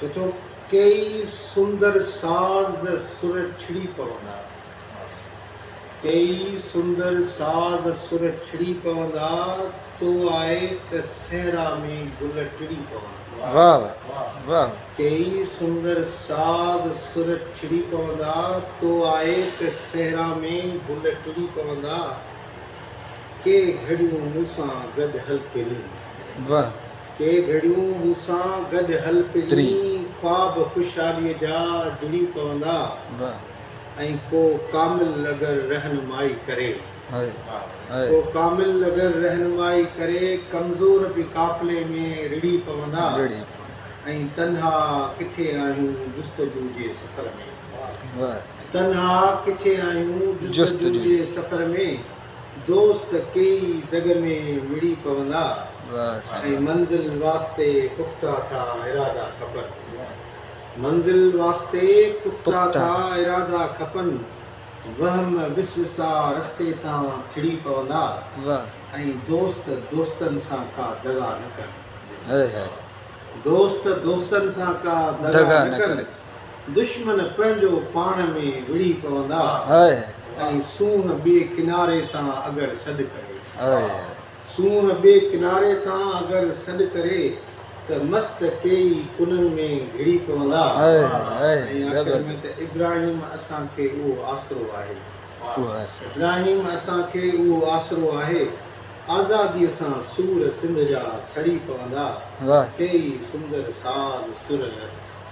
چچو ڪيئي سندر ساز سر ڇڙي پوندا. ڪيئي سندر ساز سر ڇڙي پوندا، تو آء ته صحرا ۾ گل ٽڙي پوندا. ڪيئي سندر ساز سر ڇڙي پوندا، تو آء ته صحرا ۾ گل ٽڙي پوندا، ڪي گهڙيون مون سان گڏ هل ڪيئي. ڪي گهڙيون مون سان گڏ هل پرين خواب خوشحاليء جا جڙي پوندا ۽ ڪو ڪامل اگر رهنمائي ڪري ڪو ڪامل اگر رهنمائي ڪري ڪمزور به قافلي ۾ رڙهي پوندا ۽ تنها ڪٿي آهيون جستجو جي سفر ۾ تنها ڪٿي آهيون جستجو جي سفر ۾. دوست ڪيئي زڳ ۾ مڙي پوندا ۽ منزل واسطي پختا ٿا ارادا کپن منزل واسطي پختا ٿا ارادا کپن وهم وسوسا رستي تان ٿڙي پوندا ۽ دوست دوستن سان ڪا دغا نه ڪن دوست دوستن سان ڪا دغا نه ڪن. دشمن پنهنجو پاڻ ۾ وڙهي پوندا ۽ سونهن ٻئي ڪناري تان اگر سڏ ڪري سونهن ٻئي ڪناري تان اگر سڏ ڪري ته مست ٽيئي ڪنن ۾ گهڙي پوندا ۽ آخر ۾ ته ابراهيم اسان کي اهو آسرو آهي ابراهيم اسان کي اهو آسرو آهي آزاديء سان سور سنڌ جا سڙي پوندا ٽيئي سندر ساز سر